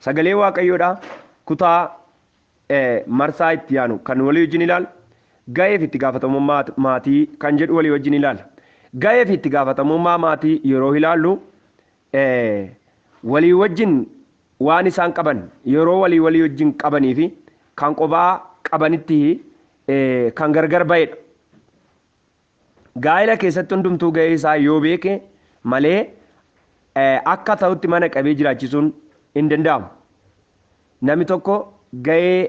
Sagalee Waaqayyoodha. Kutaa marsaa itti yaanu kan walii wajjin ilaal. Ga'ee fi itti gaafatamummaa maatii kan jedhu walii wajjin ilaal. Ga'ee fi itti gaafatamummaa maatii yeroo ilaallu walii wajjin waan isaan qaban yeroo walii walii wajjin qabanii fi kan qobaa qabanitti kan gargar ba'edha. Gaa'ila keessatti hundumtuu ga'ee isaa yoo beeke malee akka ta'utti mana qabee jiraachisuun hin danda'amu. Namni tokko ga'ee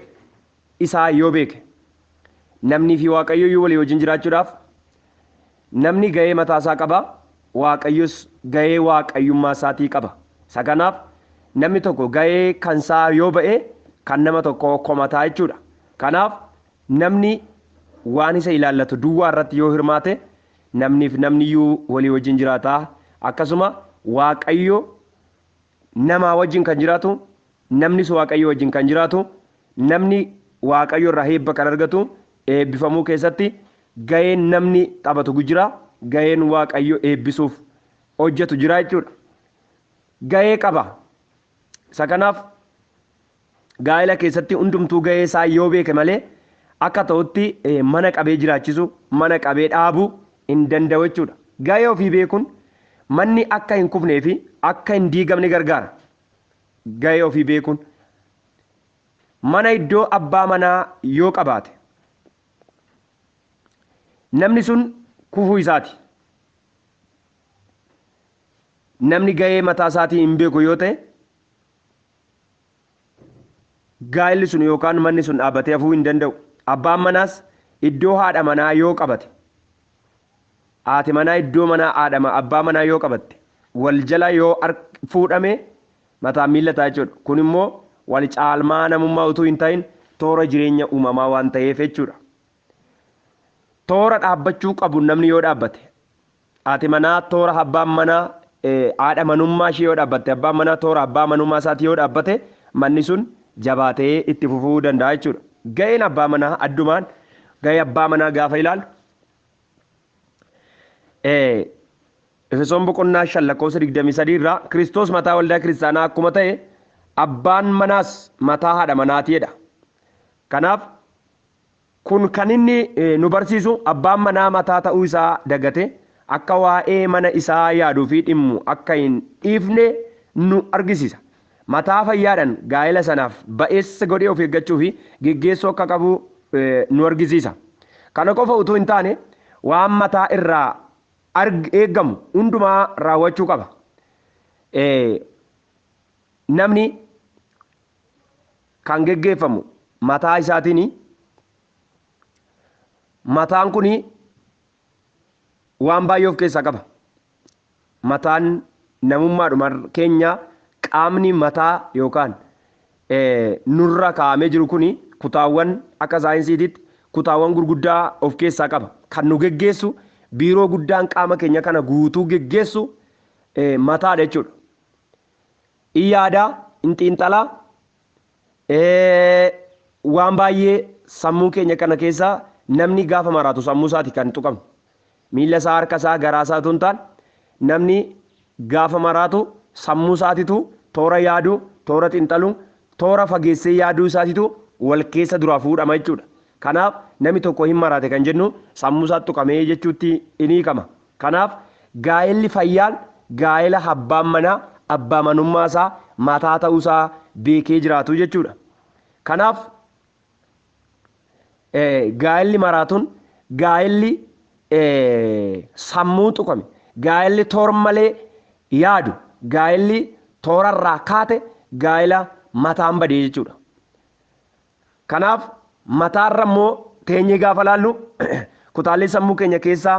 isaa yoo beeke namnii fi Waaqayyo iyyuu walii wajjin jiraachuudhaaf namni ga'ee mataa isaa qaba, Waaqayyos ga'ee Waaqayyummaa isaatii qaba. Isa kanaaf namni tokko ga'ee kan isaa yoo ba'e kan nama tokkoo komataa jechuudha. Kanaaf Namni waan isa ilaallatu duwwaa irratti yoo hirmaate, namniif namni iyyuu walii wajjin jiraata. Akkasuma Waaqayyo namaa wajjin kan jiraatu, namnis Waaqayyoo wajjin kan jiraatu, namni Waaqayyo irraa eebba kan argatu, eebbifamuu keessatti ga'een namni taphatu jira, ga'een Waaqayyo eebbisuuf hojjetu jira jechuudha. Ga'ee qaba. Isa kanaaf Gaa'ela keessatti hundumtuu gahee isaa yoo beeke malee akka ta'utti mana qabee jiraachisu, mana qabee dhaabu hin danda'u jechuudha. Gahee ofii beekun manni akka hin kufnee fi akka hin diigamne gargaara. Gahee ofii beekun mana iddoo abbaa manaa yoo qabaate namni sun kufuu isaati. Namni gahee mataa isaatii hin beeku yoo ta'e gaa'illi sun yookaan manni sun dhaabbatee hafuu hin danda'u. Abbaan manaas iddoo haadha manaa yoo qabate, haati manaa iddoo manaa haadha abbaa manaa yoo qabatte, wal jala yoo fuudhame mataan miilla ta'a jechuudha. Kun immoo wal caalmaa namummaa utuu hin ta'in toora jireenya uumamaa waan ta'eef jechuudha. Toora dhaabbachuu qabu namni yoo dhaabbate, Haati manaa toora abbaan manaa haadha manummaa ishee yoo dhaabbatte, abbaan manaa toora abbaa manummaa isaatii yoo dhaabbate manni sun jabaatee itti fufuu danda'a jechuudha. Ga'een abbaa manaa addumaan ga'ee abbaa manaa gaafa ilaalu Efesoon boqonnaa 5 lakkoofsa 23 irraa Kiristoos mataa waldaa kiristaanaa akkuma ta'e abbaan manaas mataa haadha manaatii jedha. Kanaaf Kun kan inni nu barsiisu abbaan manaa mataa ta'uu isaa dagate akka waa'ee mana isaa yaaduu fi dhimmu akka hin dhiifne nu argisiisa. Mataa fayyaadhaan gaa'ela sanaaf ba'eessa godhee of eeggachuu fi geggeessuu akka qabu nu argisiisa. Kana qofa utuu hin taane, waan mataa irraa eeggamu hundumaa raawwachuu qaba. Ee, namni kan geggeeffamu mataa isaatiini. Mataan kun waan baay'ee of keessaa qaba. Mataan namummaadhuma keenya qaamni mataa yookaan nurra kaa'amee jiru kun kutaawwan akka saayinsiititti kutaawwan gurguddaa of keessaa qaba. Kan nu geggeessu biiroo guddaan qaama keenya kana guutuu geggeessu mataadha jechuudha. In yaadaa, in xiinxalaa, waan baay'ee sammuu keenya kana keessaa namni gaafa maraatu sammuu isaati kan tuqamu. Miila isaa, harka isaa, garaa isaa utuu hin taane namni gaafa maraatu sammuu isaatitu toora yaadu, toora xiinxalu, toora fageessee yaaduu isaatitu wal keessa duraa fuudhama jechuudha. Kanaaf nami tokko hin maraate kan jennu sammuu isaa tuqamee jechuutti in hiikama. Kanaaf gaa'elli fayyaan gaa'ela habbaan manaa abbaa manummaa isaa mataa ta'uu isaa beekee jiraatu jechuudha. Kanaaf gaa'elli maraatun gaa'elli sammuu tuqame gaa'elli toor malee yaadu gaa'elli toorarraa kaate gaa'ela mataan badee jechuudha. Kanaaf mataarra immoo teenyee gaafa laallu kutaalee sammuu keenya keessaa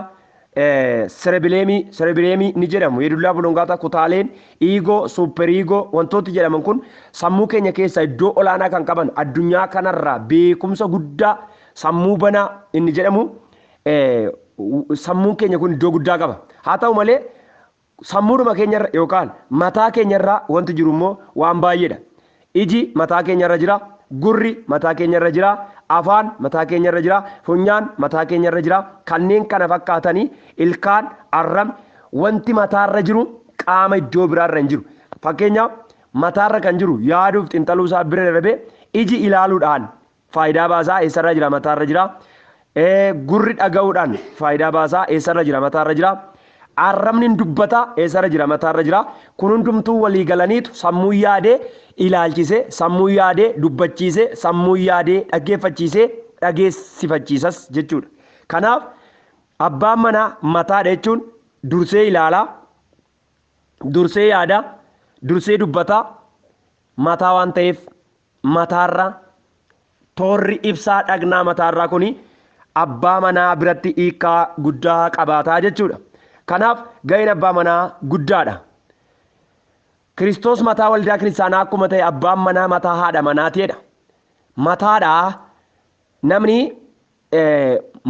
serebileemii serebileemii ni jedhamu yedullaa bulongaataa kutaaleen iigoo suuperiigoo wantooti jedhaman kun sammuu keenya keessaa iddoo olaanaa kan qaban addunyaa kanarraa beekumsa guddaa sammuu banaa inni jedhamu sammuun keenya kun iddoo guddaa qaba haa ta'u malee Sammuudhuma keenya irra yookaan mataa keenya irra wanti jiru immoo waan baay'eedha. Iji mataa keenya irra jira, gurri mataa keenya irra jira, afaan mataa keenya irra jira, funyaan mataa keenya irra jira, kanneen kana fakkaatani, ilkaan, arrabni, wanti mataa irra jiru qaama iddoo biraa irra hin jiru. Fakkeenyaaf mataa irra kan jiru yaaduuf xinxaluu isaa bira darbee iji ilaaluudhaan Faayidaa baasaa eessarra jira mataarra jira. Gurri dhaga'uudhaan faayidaa baasaa eessarra jira mataarra jira. Arrabni hin dubbata eessarra jira mataarra jira. Kun hundumtuu walii galaniitu sammuun yaadee ilaalchisee, sammuun yaadee dubbachiisee, sammuun yaadee dhaggeeffachiisee dhageessifachiisas jechuudha. Kanaaf abbaan manaa mataadha jechuun dursee ilaala, dursee yaada, dursee dubbata mataa waan ta'eef mataarraa, Toorri ibsaa dhagnaa mataarraa kuni abbaa manaa biratti hiikkaa guddaa qabaata jechuudha. Kanaaf ga'een abbaa manaa guddaadha. Kiristoos mataa waldaa kiristaanaa akkuma ta'e abbaan manaa mataa haadha manaatii jedha. Mataadha namni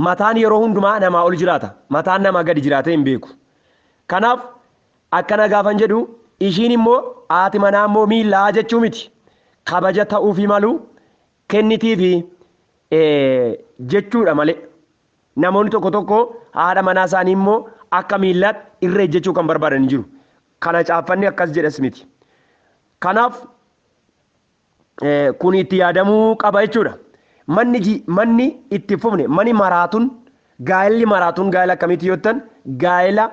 mataan yeroo hundumaa namaa ol jiraata. Mataan namaa gadi jiraatee hin beeku. Kanaaf akkana gaafan jedhu ishiin immoo haati manaa immoo miillaa jechuu miti. Kabaja ta'uufii malu kennitiifi jechuudha malee. Namoonni tokko tokko haadha manaa isaanii immoo akka miillaatti irra ejjechuu kan barbaadan jiru. Kana caaffanni akkas jedhas miti. Kanaaf kun itti yaadamuu qaba jechuudha. Manni manni itti fufne mani maraatun gaa'elli maraatun gaa'ela akkamitti yoo ta'an gaa'ela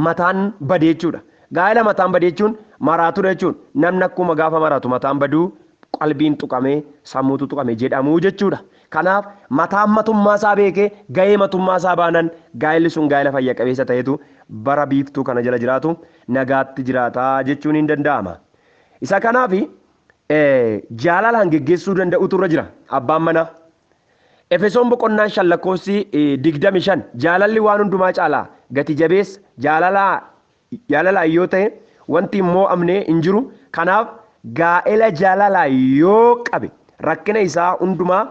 mataan badee jechuudha. Gaa'ela mataan badee jechuun maraatudha jechuun namni akkuma gaafa maraatu mataan baduu qalbiin tuqamee sammuutu tuqame jedhamuu jechuudha. Kanaaf mataan matummaa isaa beekee gahee matummaa isaa baanan gaa'elli sun gaa'ela fayya qabeessa ta'etu bara biiftuu kana jala jiraatu nagaatti jiraataa jechuun hin danda'ama. Isa kanaaf jaalalaan geggeessuu danda'utu irra jira abbaan manaa. Efesoon boqonnaan shan lakkoofsi digdami shan jaalalli waan hundumaa caalaa gati jabeessa jaalalaa jaalalaa yoo ta'e wanti hin moo'amne hin jiru kanaaf gaa'ela jaalalaa yoo qabe rakkina isaa hundumaa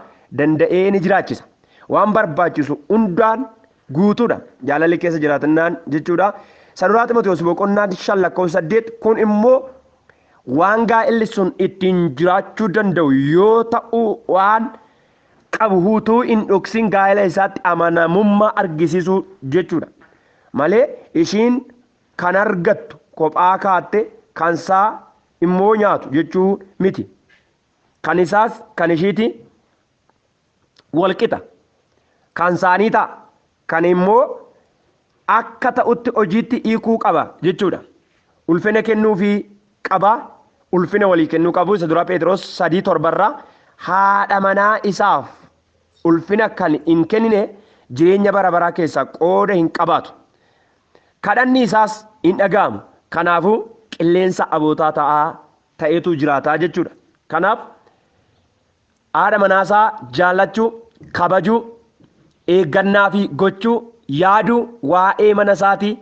danda'ee ni jiraachisa waan barbaachisu hundaan guutuudha jaalalli keessa jiraatannaan jechuudha. Saduraa Ximotewos boqonnaan shan lakkoofsa saddeet kun immoo waan gaa'illi sun ittiin jiraachuu danda'u yoo ta'u waan qabu hutuu hin dhoksin gaa'ila isaatti amanamummaa argisisuu jechuudha malee ishiin kan argattu kophaa kaatte kan saa immoo nyaatu jechuu miti kan isaas kan ishiiti wal qixa. Kan isaanii ta'a. Kan immoo akka ta'utti hojiitti hiikuu qaba jechuudha. Ulfina kennuufii qaba. Ulfina walii kennuu qabu. Isa duraa Pheexiroos sadii torbarraa haadha manaa isaaf ulfina kan hin kennine jireenya bara baraa keessaa qooda hin qabaatu. Kadhanni isaas hin dhaga'amu. Kanaafuu qilleensa abootaa ta'aa ta'etu jiraataa jechuudha. Kanaaf Haadha manaasaa jaallachuu, kabajuu, eeggannaafi gochuu, yaaduu, waa'ee mana isaatii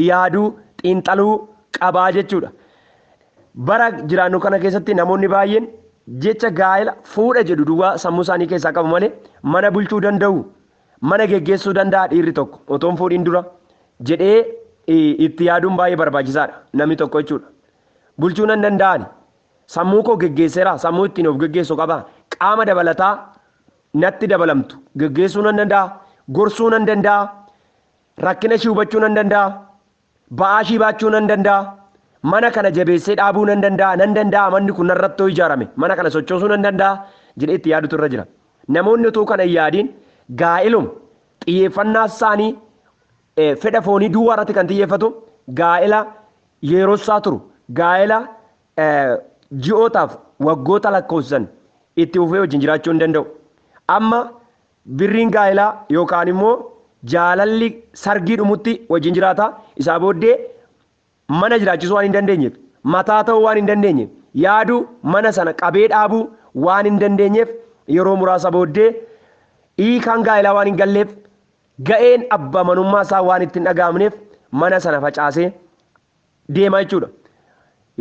yaaduu, xiinxaluu qabaa jechuudha. Bara jiraannu kana keessatti namoonni baay'een jecha gaa'ela, fuudha jedhu duwwaa sammuu isaanii keessaa qabu malee mana bulchuu danda'u, mana geggeessuu danda'a dhiirri tokko otoo hin fuudhiin dura jedhee itti yaaduun baay'ee barbaachisaadha. Namni tokko jechuudha. Bulchuu nan danda'ani? Sammuu koo geggeesseeraa? Sammuu ittiin of geggeessu qabaa? Qaama dabalataa natti dabalamtu geggeessuu nan danda'a? Gorsuu nan danda'a? Rakkina ishii hubachuu nan danda'a? Ba'aa ishii baachuu nan danda'a? Mana kana jabeessee dhaabuu nan danda'a? Nan danda'a manni kun narratti yoo ijaarame mana kana sochoosuu nan danda'a? jedhee itti yaadutu irra jira. Namoonni utuu kana hin yaadiin gaa'ilum xiyyeeffannaa isaanii fedha foonii duwwaa irratti kan xiyyeeffatu gaa'ela yeerossaa turu gaa'ela ji'ootaaf waggoota lakkoofsisan itti fufee wajjin jiraachuu hin danda'u. Amma birriin gaa'elaa yookaan immoo jaalalli sargii dhumutti wajjin jiraata. Isaa booddee mana jiraachisuu waan hin dandeenyeef, mataa ta'uu waan hin dandeenyeef, yaaduu, mana sana qabee dhaabuu waan hin dandeenyeef yeroo muraasa booddee hiikaan gaa'elaa waan hin galleef ga'een abbaa manummaa isaa waan itti hin dhaga'amneef mana sana facaasee deema jechuudha.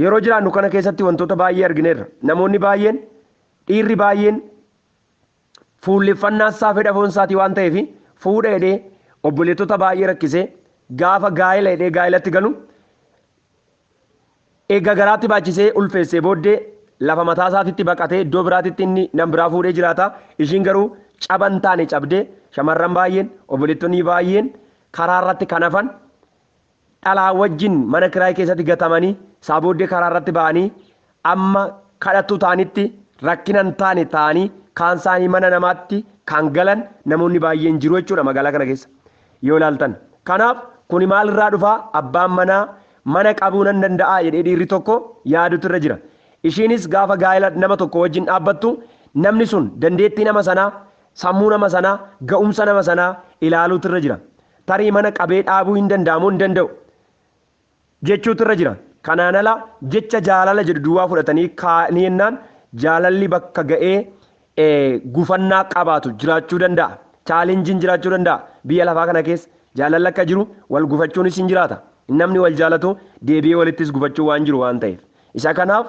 Yeroo jiraannu kana keessatti wantoota baay'ee argineerra. Namoonni baay'een, dhiirri baay'een Fuulleffannaa isaa fedha foon isaatii waan ta'eef fuudha jedhee obboleettota baay'ee rakkisee gaafa gaa'ela jedhee gaa'elatti galu eega garaatti baachisee ulfeessee booddee lafa mataa isaatitti baqatee iddoo biraatitti inni nam biraa fuudhee jiraata. Ishiin garuu caba hin taane cabdee shamarran baay'een obboleettonni baay'een karaa irratti kan hafan dhalaa wajjin mana kiraay keessatti gatamanii isaa booddee karaa irratti ba'anii amma kadhattuu ta'anitti rakkina hin taane ta'anii kaan isaanii mana namaatti kan galan namoonni baay'een jiru jechuudha magaalaa kana keessa yoo ilaaltan. Kanaaf kuni maal irraa dhufaa abbaan manaa mana qabuu nan danda'aa jedhee dhiirri tokko yaadutu irra jira. Ishiinis gaafa gaa'ela nama tokko wajjin dhaabbattu namni sun dandeettii nama sanaa sammuu nama sanaa ga'umsa nama sanaa ilaaluutu irra jira. Tarii mana qabee dhaabuu hin danda'a moo hin danda'u? jechuutu irra jira. Kanaan ala jecha jaalala jedhu duwwaa fudhatanii kaa'anii jennaan jaalalli bakka ga'ee gufannaa qabaatu jiraachuu danda'a. Chaalenjiin jiraachuu danda'a. Biyya lafaa kana keessa jaalalli akka jiru wal gufachuunis hin jiraata. Namni wal jaalatu deebi'ee walittis gufachuu waan jiru waan ta'eef. Isa kanaaf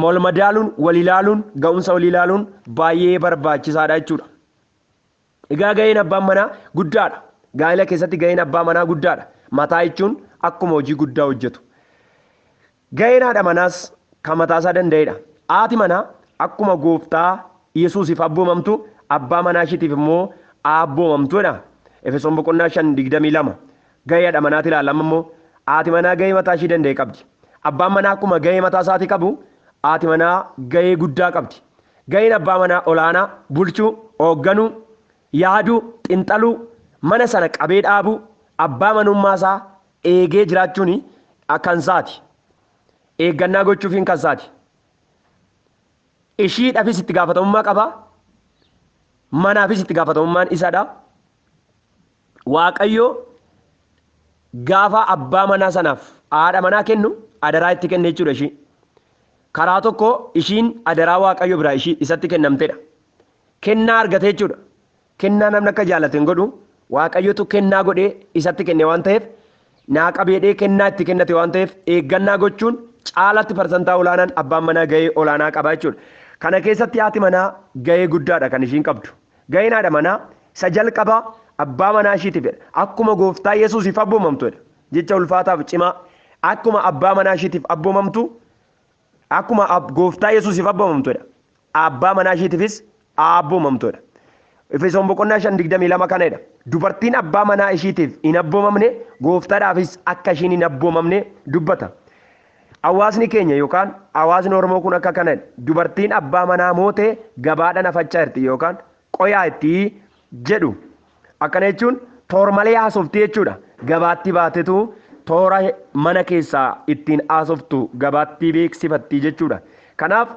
wal madaaluun, wal ilaaluun, ga'umsa wal ilaaluun baay'ee barbaachisaadha jechuudha. Egaa gaheen abbaan manaa guddaadha. Gaa'ila keessatti gaheen abbaa manaa guddaadha. Mataa jechuun akkuma hojii guddaa hojjetu. Gaheen haadha manaas kan mataasaa danda'edha. Haati manaa akkuma gooftaa Yesuusiif abboomamtu abbaa manaa ishiitiif immoo haa abboomamtu jedha. Efesoon boqonnaa 5 22. Gahee hadha manaati ilaalla amma immoo haati manaa gahee mataa ishii danda'e qabdi. Abbaan manaa akkuma gahee mataa isaatii qabu haati manaa gahee guddaa qabdi. Gaheen abbaa manaa olaanaa bulchuu, hoogganuu, yaaduu, xinxaluu, mana sana qabee dhaabuu, abbaa manummaa isaa eegee jiraachuun kan isaati. Eeggannaa gochuufiin kan isaati. Ishiidhafis itti gaafatamummaa qaba. Manaafis itti gaafatamummaan isadha. Waaqayyo gaafa abbaa manaa sanaaf haadha manaa kennu adaraa itti kenne jechuudha ishii. Karaa tokko ishiin adaraa Waaqayyo biraa ishii isatti kennamtedha. Kennaa argate jechuudha. Kennaa namni akka jaallatu hin godhu. Waaqayyotu kennaa godhee isatti kenne waan ta'eef naa qabeedhee kennaa itti kennate waan ta'eef eeggannaa gochuun caalatti parsantaa olaanaan abbaan manaa gahee olaanaa qaba jechuudha. Kana keessatti haati manaa gahee guddaadha kan ishiin qabdu. Ga'een haadha manaa isa jalqabaa abbaa manaa ishiitiifidha. Akkuma gooftaa Yesuusiif abboomamtudha. Jecha ulfaataaf cimaa. Akkuma abbaa manaa ishiitiif abboomamtu, akkuma ab- gooftaa Yesuusiif abboomamtudha. Abbaa manaa ishiitiifis abboomamtudha. Efesoon boqonnaa 5:22 kana jedha. Dubartiin abbaa manaa ishiitiif hin abboomamne gooftaadhaafis akka ishiin hin abboomamne dubbata. Hawaasni keenya yookaan hawaasni Oromoo kun akka kana jedha, Dubartiin abbaa manaa moote gabaadhaan afachaa jirti yookaan qoyaa itti jedhu. Akkana jechuun toor malee haasofti jechuudha. Gabaatti baatetu toora mana keessaa ittiin haasoftu gabaatti beeksifatti jechuudha. Kanaaf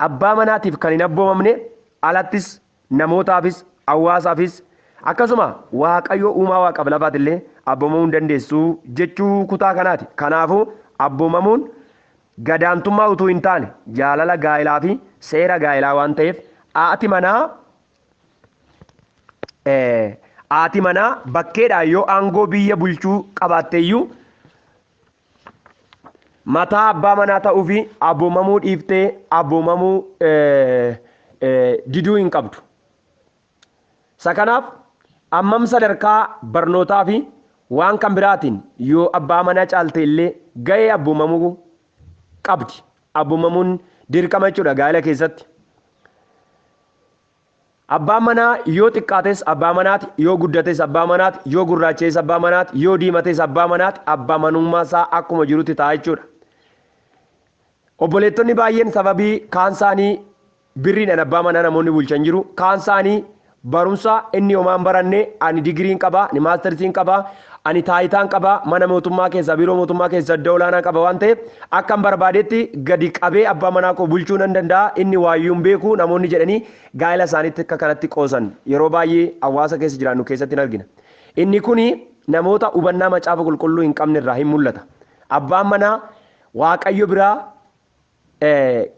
abbaa manaatiif kan hin abboomamne alattis namootaafis, hawaasaafis, akkasuma Waaqayyo uumaa waaqaaf lafaati illee abboomamuu hin dandeessu jechuu kutaa kanaati. Kanaafuu abboomamuun gadaantummaa utuu hin taane jaalala gaa'ilaa fi seera gaa'ilaa waan ta'eef haati manaa haati manaa bakkeedhaan yoo aangoo biyya bulchuu qabaatte iyyuu Mataa abbaa manaa ta'uufi aboomamuu dhiiftee aboomamuu diduu hin qabdu. Isa kanaaf ammam sadarkaa barnootaa fi waan kan biraatiin yoo abbaa manaa caalte illee gahee abboomamuu qabdi. Abboomamuun dirqama jechuudha gaa'ela keessatti. Abbaan manaa yoo xiqqaates abbaa manaati, yoo guddates abbaa manaati, yoo gurraacha'es abbaa manaati, yoo diimates abbaa manaati, abbaa manummaa isaa akkuma jirutti ta'a jechuudha. Obboleettonni baay'een sababii kaan isaanii birriidhaan abbaa manaa namoonni bulchan jiru, kaan isaanii barumsa inni homaa hin baranne ani digiriin qaba, ani maastarsiin qaba, Ani taayitaan qaba, mana mootummaa keessaa, biiroo mootummaa keessaa iddoo olaanaa qaba waan ta'eef akkan barbaadetti gadi qabee abbaa manaa koo bulchuu nan danda'a, inni waayyuu hin beeku namoonni jedhanii gaa'ela isaaniitti akka kanatti qoosan yeroo baay'ee hawaasa keessa jiraannu keessatti hin argina. Inni kun namoota hubannaa Macaafa Qulqulluu hin qabne irraa in mul'ata. Abbaan manaa Waaqayyo biraa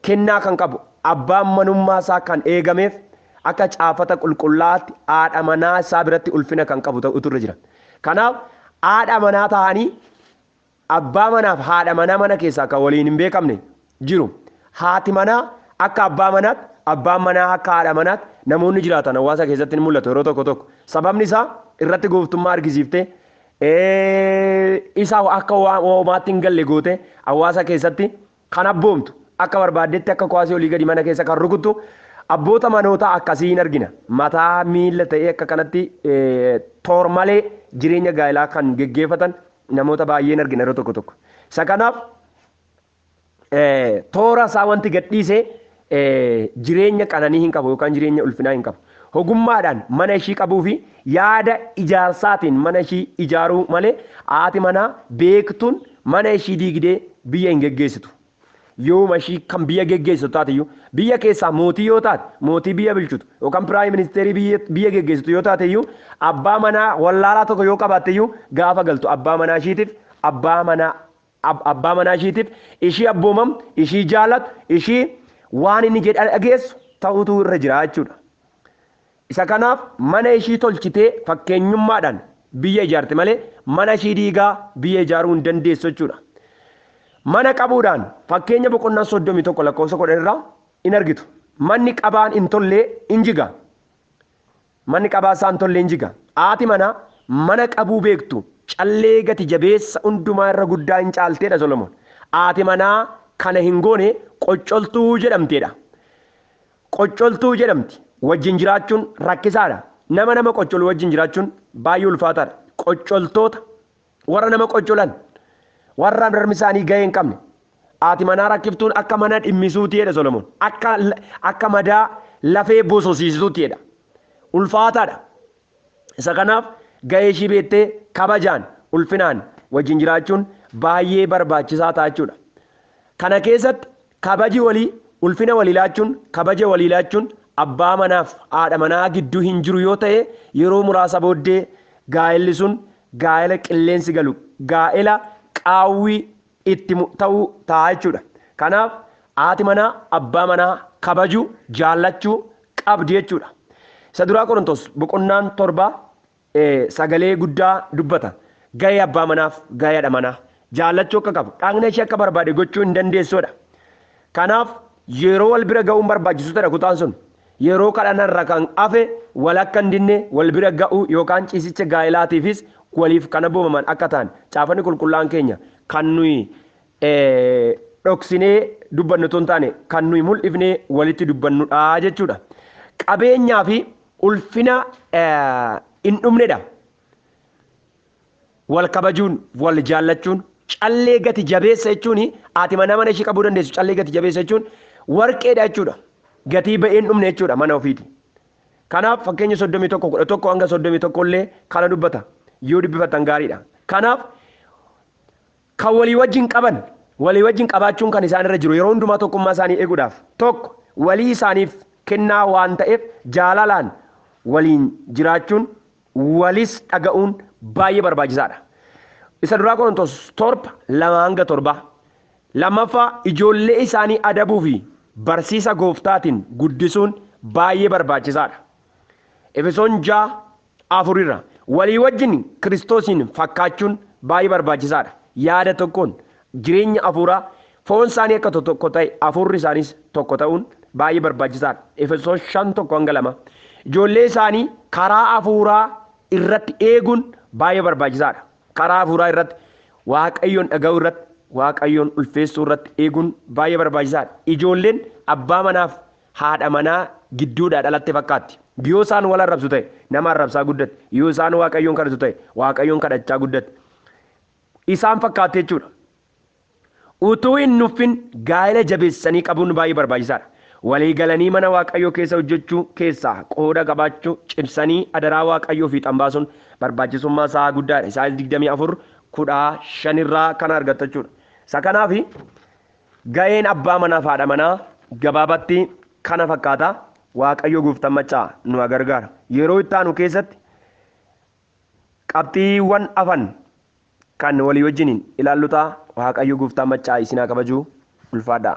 kennaa kan qabu abbaan manummaa isaa kan eegameef akka caafata qulqullaa'aatti haadha manaa isaa biratti ulfina kan qabu ta'utu irra jira. Kanaaf haadha manaa ta'anii abbaa manaaf haadha manaa mana keessaa kan waliin hin beekamne jiru. Haati manaa akka abbaa manaatti, abbaan manaa akka haadha manaatti namoonni jiraatan hawaasa keessatti ni mul'atu yeroo tokko tokko. Sababni isaa irratti gooftummaa argisiiftee isa akka hoomaatti hin galle goote hawaasa keessatti kan abboomtu akka barbaaddetti akka kuwaasii olii gadi mana keessa kan rukuttu abboota manoota akkasii hin argina mataa miila ta'ee akka kanatti toor malee jireenya gaa'elaa kan geggeeffatan namoota baay'ee hin argina yeroo tokko tokko isa kanaaf toora isaa wanti gadhiise jireenya qananii hin qabu yookaan jireenya ulfinaa hin qabu. Hogummaadhaan mana ishii qabuu fi yaada ijaarsaatiin mana ishii ijaaruu malee haati manaa beektuun mana ishii diigdee biyya hin geggeessitu. Yooma ishii kan biyya geggeessitu taateyyuu biyya keessaa mootii yoo taate mootii biyya bulchitu yookaan piraayim ministeerii biyya geggeessitu yoo taateyyuu abbaa manaa wallaalaa tokko yoo qabaatteyyuu gaafa galtu abbaa manaa ishiitiif abbaa manaa Ab, abbaa manaa ishiitiif, ishii abboomam, ishii jaalat, ishii waan inni jedhe dhageessu ta'utu irra jira jechuudha. Isa kanaaf mana ishii tolchitee fakkeenyummaadhaan biyya ijaarti malee mana ishii diigaa biyya ijaaruu hin dandeessu jechuudha. Mana qabuudhaan fakkeenya boqonnaa 31 lakkoofsa 10 irraa in argitu. Manni qabaan hin tollee in jiga. Manni qabaa saantollee hin jiga. Aati manaa mana qabuu beektu callee gati jabeessa undumaa irra guddaa hin caalteedha Solomoon. Aati manaa kana hin goone qoccoltuu jedhamteedha. Qoccoltuu jedhamti. Wajjin jiraachuun rakkisaadha. Nama nama qoccolu wajjin jiraachuun baay'ee ulfaataadha. Qoccoltoota. Warra nama qoccolan, warra harmi isaanii gahee hin qabne, haati manaa rakkiftuun akka mana dhimmisuuti jedha Solomoon. Akka, akka madaa lafee bososiistuutti jedha. Ulfaataadha. Isa kanaaf gahee ishii beettee kabajaan, ulfinaan wajjin jiraachuun baay'ee barbaachisaa ta'a jechuudha. Kana keessatti Kabaji walii, ulfina walii laachuun, kabaja walii laachuun abbaa manaaf haadha manaa gidduu hin jiru yoo ta'e yeroo muraasa booddee gaa'elli sun gaa'ela qilleensi galu, gaa'ela qaawwi itti mu ta'u ta'a jechuudha. Kanaaf haati manaa abbaa manaa kabajuu, jaallachuu qabdi jechuudha. Isa duraa Qorontos boqonnaan 7 sagalee guddaa dubbata. Gahee abbaa manaaf gahee hadha manaa jaallachuu akka qabu, dhaqna ishee akka barbaade gochuu hin dandeessuudha. Kanaaf yeroo wal bira ga'uun barbaachisu tadha kutaan sun. Yeroo kadhana irra kan hafe wal akka hin dinne wal bira ga'uu yookaan ciisicha gaa'elaatiifis waliif kan abboomaman akka ta'an caafanni qulqullaa'an keenya kan nuyi dhoksinee dubbannu otoo hin taane kan nuyi mul'ifnee walitti dubbannudha jechuudha. Qabeenyaa fi ulfina hin dhumnedha. Wal kabajuun, wal jaallachuun, callee gati jabeessa jechuun haati manaa mana ishee qabuu dandeessu callee gati jabeessa jechuun warqeedha jechuudha. Gatii ba'ee hin dhumne jechuudha mana ofiiti. Kanaaf fakkeenya 31 11 hanga 31 illee kana dubbata. Yoo dubbifattan gaariidha. Kanaaf Kan walii wajjin qaban, walii wajjin qabaachuun kan isaan irra jiru yeroo hundumaa tokkummaa isaanii eguudhaaf, tokko walii isaaniif kennaa waan ta'eef jaalalaan waliin jiraachuun, walis dhaga'uun baay'ee barbaachisaa dha. Isa duraa Qorontos 7, 2-7. Lammaffaa ijoollee isaanii adabuu fi barsiisa gooftaatiin guddisuun baay'ee barbaachisaa dha. Efesoon 6, 4 irra. Walii wajjin Kiristoosiin fakkaachuun baay'ee barbaachisaa dha. Yaada tokkoon, jireenya hafuuraa, foon isaanii akka tokko ta'e, hafuurri isaaniis tokko ta'uun baay'ee barbaachisaa dha. Efesoos 5 1-2. Ijoollee isaanii karaa hafuuraa irratti eeguun baay'ee barbaachisaa dha. Karaa hafuuraa irratti, Waaqayyoon dhaga'uu irratti, Waaqayyoon ulfeessuu irratti eeguun baay'ee barbaachisaa dha. Ijoolleen abbaa manaaf haadha manaa gidduudhaa dhalatte fakkaatti. Yoo isaan wal arrabsu ta'e nama arrabsaa guddate. Yoo isaan Waaqayyoon kadhatu ta'e Waaqayyoon kadhachaa guddate. Isaan fakkaatti jechuudha. Utuu hin nuffin gaa'ela jabeessanii qabuun baay'ee barbaachisaadha. Walii galanii mana Waaqayyoo keessa hojjechuu keessaa qooda qabaachuu cimsanii adaraa Waaqayyoo fiixan baasuun barbaachisummaa isaa guddaadha. Isaayyaas 24 15 irraa kana argatta jechuudha. Isa kanaaf Ga'een abbaa manaaf haadha manaa gabaabatti kana fakkaata. Waaqayyo gooftaan maccaa nu haa gargaara. Yeroo itti aanu keessatti qabxiiwwan afan kan walii wajjiniin ilaallu ta'a. Waaqayyo gooftaan maccaa isin haa kabajuu. Ulfaadhaa.